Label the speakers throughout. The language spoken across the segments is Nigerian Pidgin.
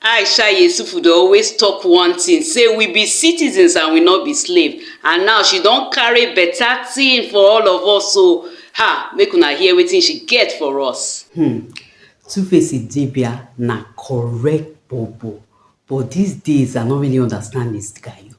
Speaker 1: Aisha Yesufu dey always talk one thing say we be citizens and we no be slave and now she don carry better thing for all of us o ha make una hear wetin she get for us. Hmm. Two
Speaker 2: Face Idibia na correct bobo but these days I no really understand this guy o.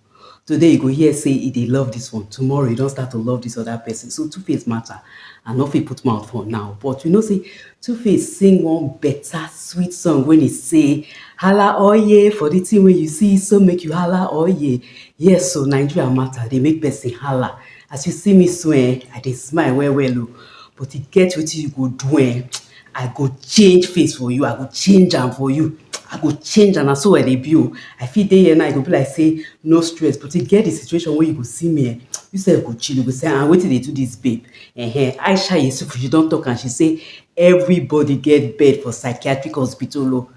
Speaker 2: Today you go hear say e dey love this one, tomorrow e don start to love this other person. So Two Face matter, I no fit put mouth for now, but you know say Two Face sing one better sweet song when he say, Hala oye for the thing wey you see, so make you hala oye. Yes so Nigeria matter dey make person hala. As you see me so eh, I dey smile well well o, but e get wetin you go do eh, I go change face for you, I go change am for you, I go change am, na so I dey be o. I fit dey here now, e go be like say no stress, but e get the situation wey you go see me eh, you sef go chill, you go say ah wetin dey do this babe um. Aisha Yesufu she don talk am, she say everybody get bed for psychiatric hospital o.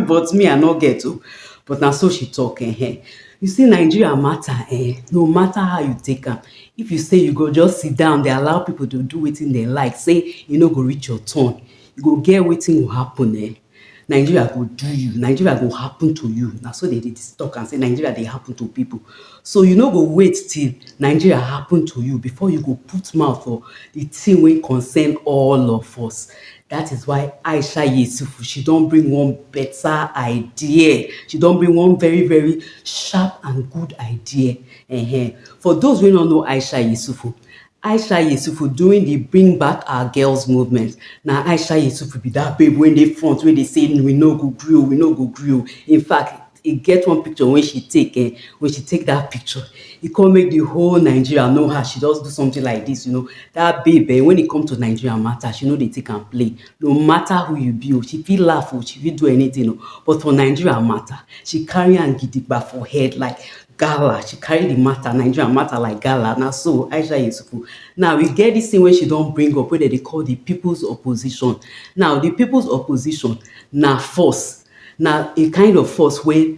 Speaker 2: but me I no get oh, but na so she talk eh, eh. You see Nigeria matter eh, no matter how you take am, if you say you go just sit down dey allow people to do wetin dem like say e no go reach your turn, you go get wetin go happen eh. Nigeria go do you, Nigeria go happen to you, na so dem dey talk am say Nigeria dey happen to people. So you no go wait till Nigeria happen to you before you go put mouth for the thing wey concern all of us. That is why Aisha Yesufu, she don bring one better idea. She don bring one very, very sharp and good idea. Uh -huh. For those wey no know Aisha Yesufu, Aisha Yesufu during the Bring Back Our Girls movement, na Aisha Yesufu be that babe wey dey front, wey dey say we no go gree o, we no go gree o. In fact, e get one picture wey she take eh, when she take that picture, e come make the whole Nigeria know her, she just do something like this, you know, that babe eh, when e come to Nigeria matter, she no dey take am play, no matter who you be o, she fit laugh o, she fit do anything o, but for Nigeria matter, she carry am gidigba for head like gala, she carry the matter, Nigeria matter like gala, na so Aisha Yesufu, now e get this thing wey she don bring up wey dem dey call the people's opposition, now the people's opposition na force, Na a kind of force wey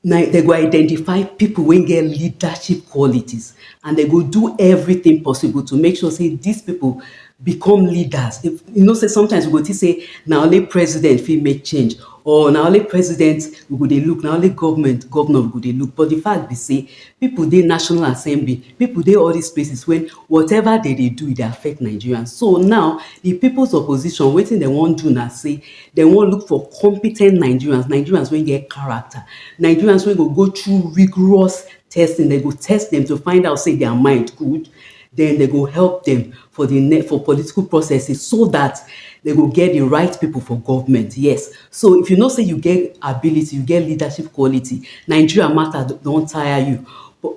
Speaker 2: na dem go identify pipu wey get leadership qualities and dem go do everything possible to make sure sey dis pipu become leaders. You know sey sometimes we go think sey na only president fit make change or na only president we go dey look, na only government, governor we go dey look. But de fact be sey pipu dey national assembly, pipu dey all dis places wey whatever dem dey do e dey affect Nigerians. So now, de pipus opposition wetin dem wan do na sey Dem wan look for competent Nigerians, Nigerians wey get character, Nigerians wey go go through rigorous testing, dem go test dem to find out sey their mind good, den dem go help dem for the ne for political processes so dat dem go get the right people for government, yes. So, if you know sey you get ability, you get leadership quality, Nigeria matter don tire you,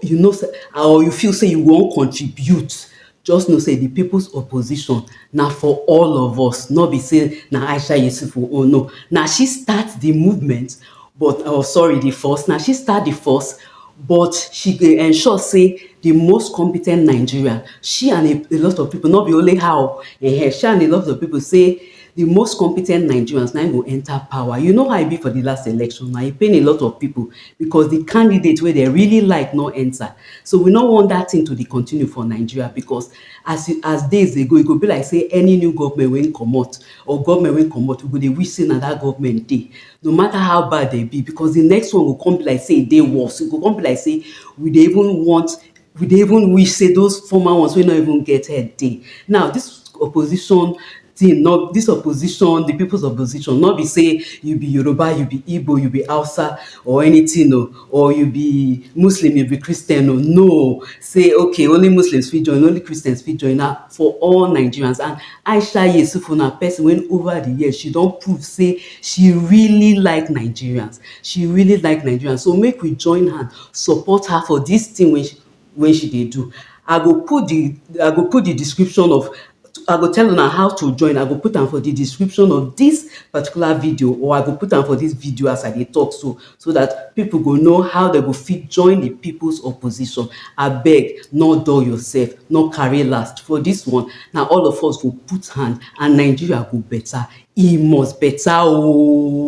Speaker 2: you know sey or you feel sey you wan contribute Just know say di peoples opposition na for all of us, no be say na Aisha Yesufu own, no. Na she start di movement but or sorry, di force, na she start di force but she dey ensure say di most competent Nigerian, she and a a lot of people, no be only her o, um she and a lot of people say di most competent Nigerians na im go enter power. You know how e be for di last election, na e pain a lot of people. because di candidate wey dem really like no enta so we no want dat tin to dey continue for Nigeria because as e as days dey go e go be like say any new govment wey comot or govment wey comot we go dey wish say na dat govment dey no mata how bad dem be because di next one go come be like say e dey worse e go come be like say we dey even want We dey even wish say those former ones wey no even get head dey. Now this opposition thing no this opposition the people's opposition no be say you be Yoruba, you be Igbo, you be Hausa or anything o or you be Muslim, you be Christian o no say okay only Muslims fit join only Christians fit join na for all Nigerians and Aisha Yesufu na person wey over the years she don prove say she really like Nigerians. She really like Nigerian so make we join hand support her for this thing wey she wey she dey do. I go put the I go put the description of I go tell una how to join I go put am for the description of this particular video or I go put am for this video as I dey talk so so that people go know how they go fit join the people's opposition abeg no dull yourself no carry last for this one na all of us go put hand and Nigeria go better e must better oo.